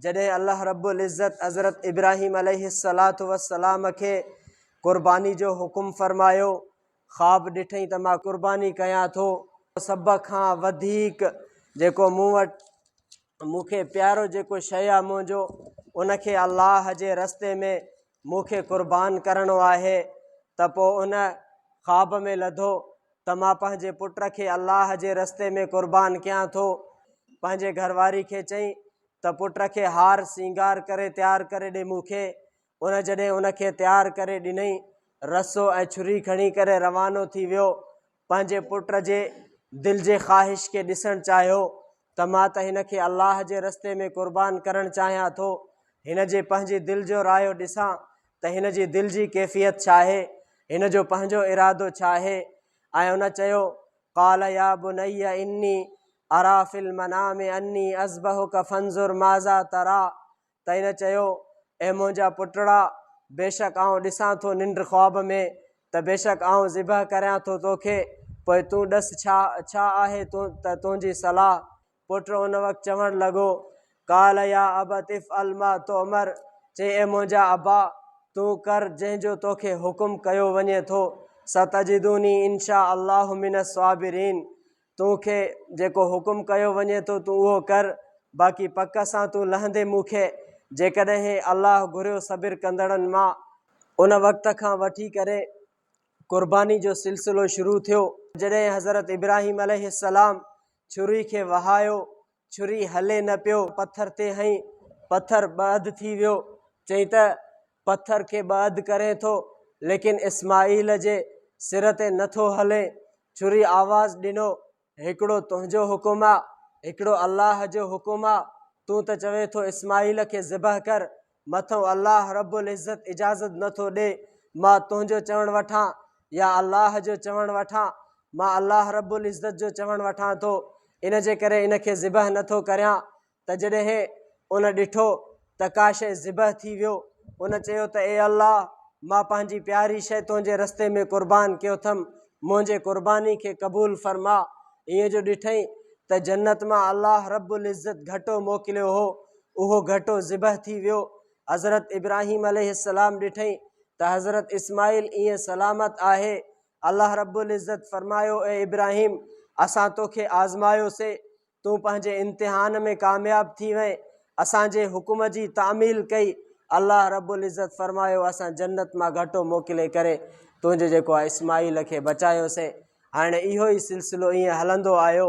جڏهن الله رب العزت حضرت ابراهيم عليه الصلاة والسلام کي قرباني جو حڪم فرمايو، خواب ڏٺئي ته مان قرباني ڪيان ٿو، سڀ کان وڌيڪ جيڪو مون وٽ مون کي پيارو جيڪو شيء آهي منهنجو ان کي الله جي رستي ۾ مون کي قربان ڪرڻو آهي ته پوء ان، خواب ۾ لڌو، ته مان پنهنجي پٽ کي الله جي رستي ۾ قربان ڪيان ٿو. پنهنجي گهر واري کي چئين ته پٽ کي هار سينگار ڪري تيار ڪري ڏي مون کي. ان جڏهن ان کي تيار ڪري ڏنئين، رسو ۽ ڇري کڻي ڪري روانو ٿي ويو. پنهنجي پٽ جي دل جي خواهش کي ڏسڻ چاهيو ته مان ته هن کي الله جي رستي ۾ قربان ڪرڻ چاهيان ٿو، هن جي پنهنجي دل جو رايو ڏسان ته هن جي دل جي ڪيفيت ڇا آهي، هن جو پنهنجو ارادو ڇا آهي ۽ ان چيو، قال يا بني اني ارا في المنام اني اذبحک فانظر ماذا ترا، ته هن چيو، اي منهنجا پٽڙا! بيشڪ آئون ڏسان ٿو ننڊ، خواب، ۾ ته بيشڪ آئون ذبح ڪريان ٿو توکي، پوء تون ڏس ڇا ڇا آهي ته تنهنجي صلاح؟ پٽ ان وقت چوڻ لڳو، قال يا ابت افعل ما تؤمر، چيائين، اي منهنجا ابا! تون ڪر جنهن جو توکي حڪم ڪيو وڃي ٿو، ستجدوني ان شاء الله من الصابرين، تو کي جيڪو حڪم ڪيو وڃي ٿو تون اهو ڪر، باقي پڪ سان تون لهندين مون کي جيڪڏهن الله گهريو صبر ڪندڙن مان. ان وقت کان وٺي ڪري قرباني جو سلسلو شروع ٿيو. جڏهن حضرت ابراهيم عليه السلام ڇري کي وهايو ڇري هلي نه پيو پٿر تي هنئين، پٿر ٻه اڌ ٿي ويو، چيائين ته پٿر کي ٻه اڌ ڪرين ٿو، ليڪن اسماعيل جي سر تي نه ٿو هلين. ڇري آواز ڏنو، هڪڙو تنهنجو حڪم آ، هڪڙو الله جو حڪم آ، تون ته چوين ٿو اسماعيل کي ذبح ڪر، مٿئون الله رب العزت اجازت نه ٿو ڏئي مان تنهنجو چوڻ وٺان يا الله جو چوڻ وٺان، مان الله رب العزت جو چوڻ وٺان ٿو، ان جي ڪري ان کي ذبح نه ٿو ڪريان ته جڏهن ان ڏٺو ته ڪا شيء ذبح ٿي ويو، ان چيو ته اي الله مان پنهنجي پياري شيء تنهنجي رستي ۾ قربان ڪيوٿم منهنجي قرباني کي قبول فرما، ايئن جو ڏٺئي ته جنت مان الله رب العزت گهٽو موڪليو هو اهو گهٽو ذبح ٿي ويو. حضرت ابراهيم عليه السلام ڏٺئين ته حضرت اسماعيل ايئن سلامت آهي. الله رب العزت فرمايو اي ابراهيم! اسان توکي آزمايوسين، تون پنهنجي امتحان ۾ ڪامياب ٿي وئين، اسان جي حڪم جي تعميل ڪئي، الله رب العزت فرمايو اسان جنت مان گهٽو موڪلي ڪري تنهنجي جيڪو آهي اسماعيل کي بچايوسين. هاڻي اهو ئي سلسلو ايئن هلندو آيو.